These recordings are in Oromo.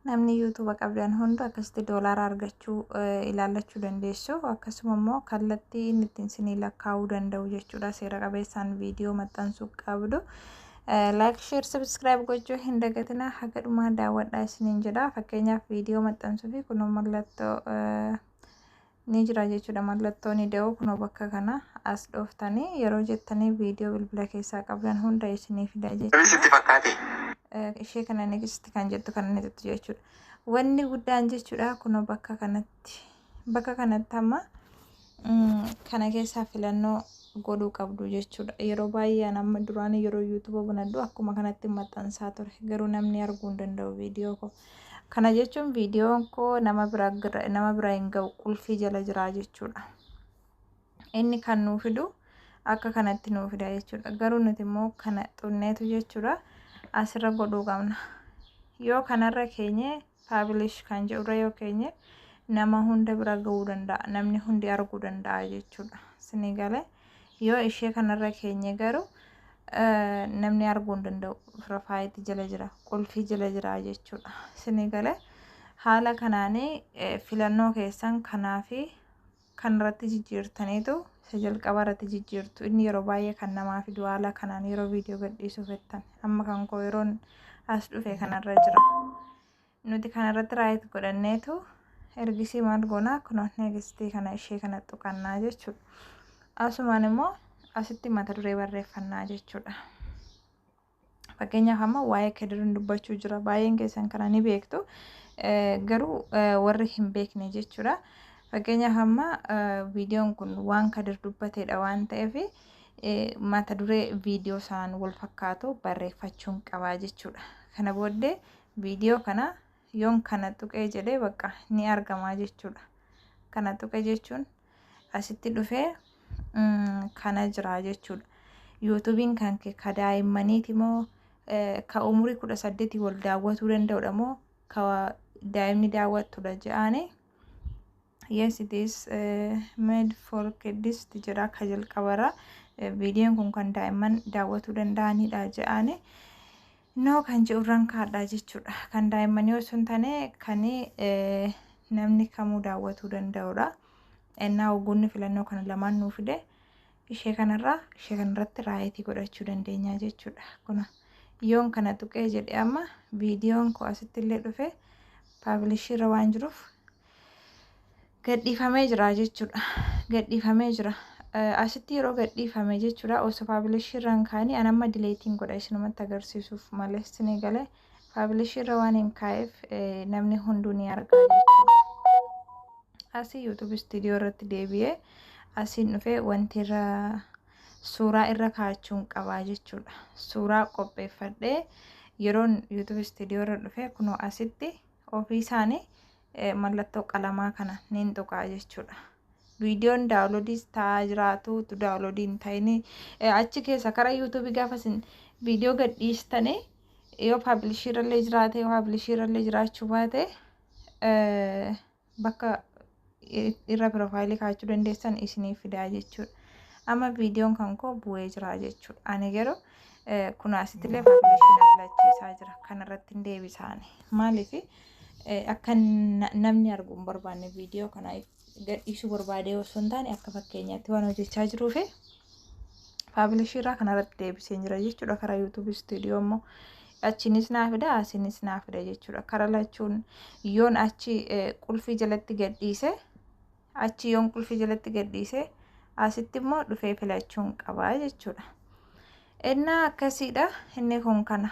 Namni yuutuuba qabdan hundu akkasitti doolaara argachuu eh, ilaallachuu dandeessu. Akkasuma immoo kallattii inni ittiin isinii lakkaa'uu danda'u jechuudha. Seera qabeessaan viidiyoo maxxansuu qabdu. Laayik, sheer, sabiskiraayib gochuu hin dagatinaa. Haga dhumaa daawwadhaa isiniin jedha. Fakkeenyaaf viidiyoo maxxansuu fi kunoo mallattoo eh, ni jira jechuudha mallattooni da'oo kunoo bakka kana as dhooftanii yeroo jettanii viidiyoo bilbila keessaa qabdan hunda isinii fida jechuudha ishee kana negisti kan jettu kan inni tuttu jechuudha wanni guddaan jechuudha kunoo bakka kanatti bakka kanatti amma kana keessaa filannoo godhuu qabdu jechuudha yeroo baay'ee amma duraan yeroo yuutuuba banadhu akkuma kanatti maxxansaa ture garuu namni arguu hin danda'u viidiyoo koo Kana jechuun viidiyoon koo nama bira nama bira hin ga'u qulfii jala jira jechuudha. Inni kan nuu fidu akka kanatti nuu fida jechuudha. Garuu nuti immoo kana xunneetu jechuudha asirra godhuu qabna. Yoo kanarra keenye paabilish kan jedhurra yoo keenye nama hunda bira ga'uu danda'a. Namni hundi arguu danda'a jechuudha. Isinii galee. Yoo ishee kanarra keenye garuu namni arguu hin danda'u. Firafaayitti jala jira, qulfii jala jira jechuudha. Isinii galee haala kanaanii filannoo keessan kanaa fi kan irratti jijjiirtaniitu isa jalqaba irratti jijjiirtu. Inni yeroo baay'ee kan namaa fidu haala kanaan yeroo viidiyoo gadhiisuu fettan. Amma kan koo yeroon as dhufe kanarra jira. Nuti kana irratti raayit godhanneetu ergisii maal goonaa kunoo neegistii kana ishee kana tuqannaa jechuudha. Asumaan immoo asitti mata duree barreeffannaa jechuudha. Fakkeenyaaf amma waa'ee kedirin dubbachuu jira. Baay'een keessan kana ni beektu. Garuu warri hin beekne jechuudha. Fakkeenyaaf amma viidiyoon kun waan kadir dubbateedha waan ta'eef mata duree viidiyoo sanaan wal fakkaatu barreeffachuun qabaa jechuudha. Kana booddee Viidiyoo kana yoon kana tuqee jedhee bakka ni argamaa jechuudha. Kana tuqe jechuun asitti dhufee kana jira jechuudha. Yuutuubiin kan kee ka daa'immaniiti moo ka umurii kudha saddeetii wal daawwatuu danda'udha moo ka daa'imni daawwattudha ja'aanii Yes it is eh, made for kids jira akka jalqabara Eh, viidiyoon kun kan daa'imman daawwatuu danda'anidha jedhaani noo kan jedhurraan kaadhaa jechuudha kan daa'immanii osoo hin taane kan eh, namni kamuu daawwatuu danda'udha ennaa hogguunni filannoo kana lamaan nuu fide ishee kanarraa ishee kanarratti raayitii godhachuu dandeenya jechuudha kuna yoon kana tuqee jedhe amma viidiyoon koo asitti illee dhufe paabilishiirra waan jiruuf gadhiifamee jira jechuudha. Gadhiifamee jira. Asitti yeroo gadhiifame jechuudha osoo faabilishii irra hin kaa'in an amma dileetiin godha isinumatti agarsiisuuf malee isin eegale faabilishii irra waan hin kaa'eef namni hunduu ni argaa jechuudha. Asii yuutuub istiidiyoo irratti deebi'ee asiin dhufee wanti irra suuraa irra kaa'achuun qabaa jechuudha. Suuraa qopheeffadhee yeroon yuutuub istiidiyoo irra dhufee kunoo asitti. ofii isaanii mallattoo qalamaa kana niin tuqaa jechuudha. Viidiyoon daawuloodiis ta'aa jiraatu utuu daawuloodii hin ta'in achi keessa karaa yuutuubii gaafa isin viidiyoo gadhiistanii yoo paabilishii irrallee jiraate yoo paabilishii irrallee jiraachuu baate bakka irra piroofaayilii kaa'achuu dandeessan isiniif fidaa jechuudha. Amma viidiyoon kan koo bu'ee jira jechuudha. Ani garuu kun asittillee faawundeeshinii filachiisaa jira. Kanarratti hin deebisaani. Maaliif akka namni arguu hin barbaanne viidiyoo kana gadhiisuu barbaadee osoo hin taane akka fakkeenyaatti waan hojjechaa jiruuf faawundeeshinii irraa kanarratti deebisee jira jechuudha. Karaa yuutuubii istuudiyoo immoo achinis naa fida asinis naa fida jechuudha kara lachuun yoon achi qulfii jalatti gadhiise achi yoon qulfii jalatti gadhiise asitti immoo dhufee filachuun qabaa jechuudha innaa akkasiidha inni kun kana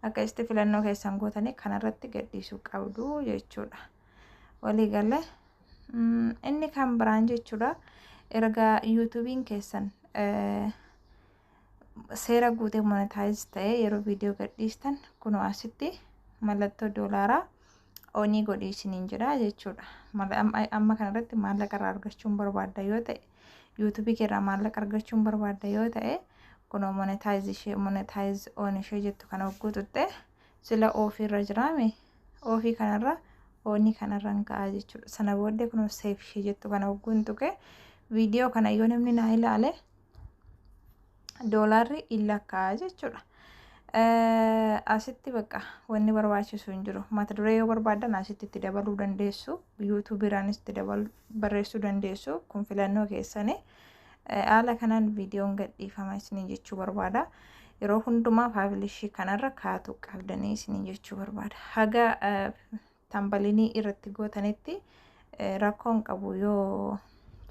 akkasitti filannoo keessan gootanii kanarratti gadhiisuu qabdu jechuudha waliigala inni kan biraan jechuudha erga yuutuubiin keessan seera guutee monetaayiz ta'ee yeroo viidiyoo gadhiistan kunoo asitti mallattoo doolaaraa onii godhii isiniin jedha jechuudha. Amma kanarratti maallaqa irraa argachuun barbaadda yoo ta'e yuutuubii keerraa maallaqa argachuun barbaadda yoo ta'e kunoo monetaayiz ishee monetaayiz on ishee jettu kana hogguu tuttee Sila ofi irra jiraame ofi kanarra ooni kanarran ka'a jechuudha. Sana booddee kunoo seef ishee jettu kana hogguun tuqe viidiyoo kana yoo namni naa ilaale doolaarri in lakkaa'a jechuudha. Asitti bakka wanni barbaachisu hin jiru. Mata duree yoo barbaadan asitti itti dabaluu dandeessu. Yuutuubiiraanis itti dabaluu barreessuu dandeessu. Kun filannoo keessanii. Haala kanaan viidiyoon gadhiifama isiniin jechuu barbaada. Yeroo hundumaa paabilishii kanarra kaatu qabdanii isiniin jechuu barbaada. Haga tambalinii irratti gootanitti rakkoon qabu yoo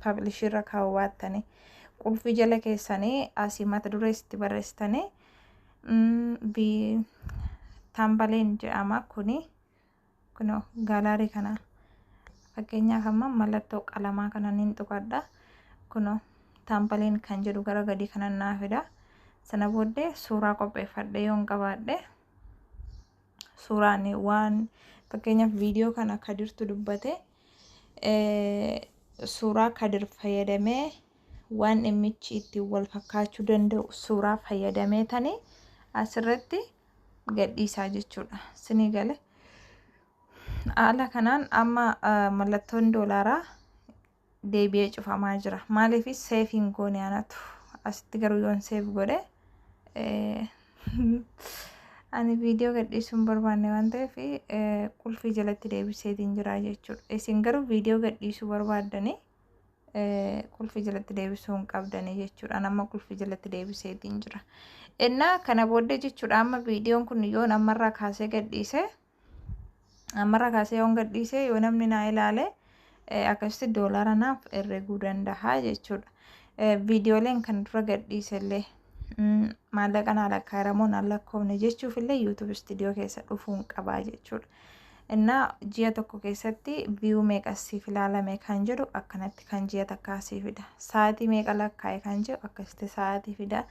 paabilishii irra kaa'uu baattanii qulfii jala keessanii asii mata duree itti barreessitanii tambaleen jedhama kuni Kunoo gaalaarii kana fakkeenyaaf amma mallattoo qalamaa kana niin tuqadha. Kunoo taampaliin kan jedhu gara gadii kana naa fida. Sana booddee suuraa qopheeffadhee yoon qabaadhe suuraan waan fakkeenyaaf viidiyoo kana kadirtu dubbate suuraa kadir fayyadamee waan dhimmichi ittiin wal fakkaachuu danda'u suuraa fayyadamee tani asirratti gadhiisaa jechuudha. Sinii gale. Haala kanaan amma mallattoon doolaaraa deebi'ee cufamaa jira. Maaliif seef hin goone anatu. Asitti garuu yoon seef godhe ani viidiyoo gadhiisuun barbaanne waan ta'eef qulfii jalatti deebiseetiin jira jechuudha. Isin garuu viidiyoo gadhiisuu barbaaddanii qulfii jalatti deebisuu hin qabdanii jechuudha. Amma qulfii jalatti deebiseetiin jira. Innaa kana booddee jechuudha amma viidiyoon kun yoon ammarraa kaasee gadhiise ammarraa kaasee yoon gadhiise yoo namni naa ilaale akkasitti doolaara naaf herreguu danda'a jechuudha. Viidiyooleen kan dura gadhiise illee. maallaqa naa lakkaa'eera moo naa lakkoofne jechuuf illee yuutuub istiidiyoo keessa dhufuun qabaa jechuudha. Innaa ji'a tokko keessatti viyuu meeqa siif ilaalame kan jedhu akkanatti kan ji'a takkaa sii fida. Sa'aatii meeqa lakkaa'e kan jedhu akkasitti sa'aatii fida.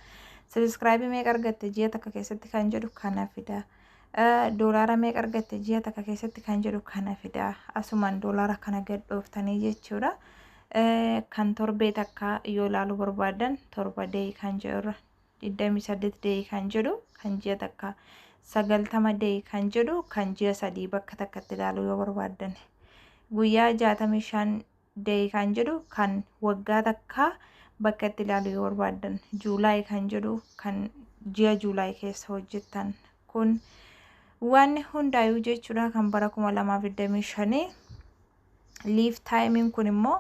Sabiskiraabii meeqa argatte ji'a takka keessatti kan jedhu kana fida. Doolaara meeqa argatte ji'a takka keessatti kan jedhu kana fida. Asumaan doolaara kana gadhooftanii jechuudha. Kan torbee takkaa yoo ilaaluu barbaaddan torba day kan jedhu irra 28 day kan jedhu kan ji'a takkaa 90 day kan jedhu kan ji'a sadii bakka takkatti ilaaluu yoo barbaaddan guyyaa 65 day kan jedhu kan waggaa takkaa bakka itti ilaaluu yoo barbaaddan juulaay kan jedhu kan ji'a juulaay keessa hojjettan kun waan hundaayuu jechuudha kan bara 2025 Live time kun immoo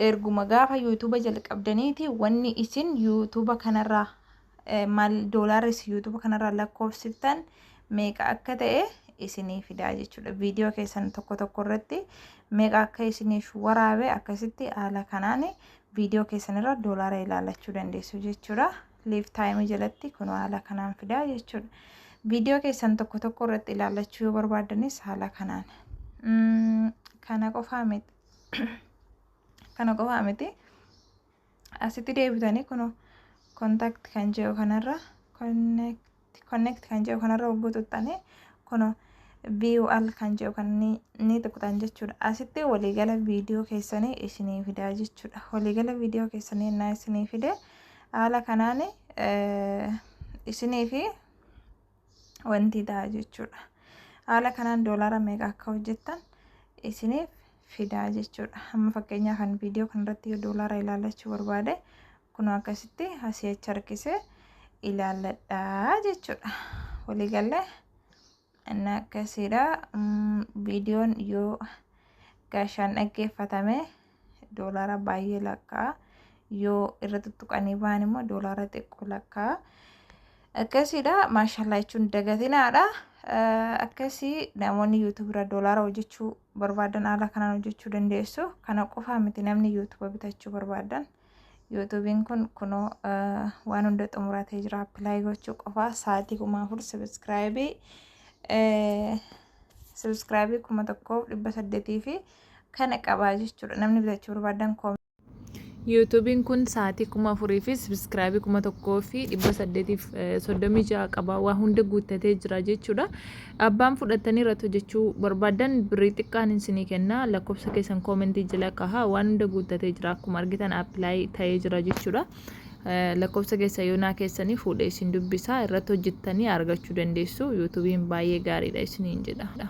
erguma gaafa YouTube jalqabdaniiti wanni isin YouTube kanarraa eh, maal doolaarri isin YouTube kanarraa lakkoofsiftan meeqa akka ta'e isinii fidaa jechuudha. Viidiyoo keessan tokko tokko irratti meeqa akka isiniif waraabe akkasitti haala kanaan viidiyoo keessan irra doolaara ilaalachuu dandeessu jechuudha. live time jalatti kun haala kanaan fidaa jechuudha. Viidiyoo keessan tokko tokko irratti ilaallachuu yoo barbaaddanis haala kanaan. Mm, Kana qofaa miti. Kana qofaa miti. Asitti deebitanii kun kontaakti kan jedhu kanarra connect connect kan jedhu kanarra hogguu tuttanii kuno view all kan jedhu kan ni, ni tuqxan jechuudha. Asitti waliigala viidiyoo keessanii isinii fidaa jechuudha. Waliigala viidiyoo keessanii innaa isinii fide haala kanaan eh, isinii fi wanti ta'a jechuudha. Haala kanaan doolaara meeqa akka hojjettan isiniif fidaa jechuudha. Amma fakkeenyaa kan viidiyoo kanarratti yoo doolaara ilaallachuu barbaade kunoo akkasitti asii achi harkisee ilaalladhaa jechuudha. Waliigallee inni akkasiidha. Viidiyoon yoo gaashaan dhaggeeffatame doolaara baay'ee lakkaa yoo irra tuttuqanii ba'an immoo doolaara xiqqoo lakkaa. Akkasiidha maashallaa jechuun dagatinaadha. Akkasii namoonni yuutuubirra doolaara hojjechuu barbaadan haala kanaan hojjechuu dandeessu. Kana qofaa miti namni yuutuuba bitachuu barbaadan yuutuubiin kun kunoo waan hunda xumuratee jira appilaay gochuu qofaa sa'aatii kuma afur sabiskiraayibii sabiskiraayibii kuma tokkoof dhibba saddeetii fi kana qabaa jechuudha namni bitachuu barbaadan Yuutuubiin kun sa'aatii kuma afurii fi sabiskiraabii kuma tokkoo fi dhibba saddeetiif soddomii ja'a qaba. Waa hunda guuttatee jira jechuudha. Abbaan fudhattanii irratti hojjechuu barbaadan birrii xiqqaan isinii kenna. Lakkoofsa keessan koomentii jala kaha. Waan hunda guuttatee jira. Akkuma argitan appilaayi ta'ee jira jechuudha. Lakkoofsa keessa yoonaa keessanii fuudhee isin dubbisa. Irratti hojjettanii argachuu dandeessu. Yuutuubiin baay'ee gaariidha isiniin jedha.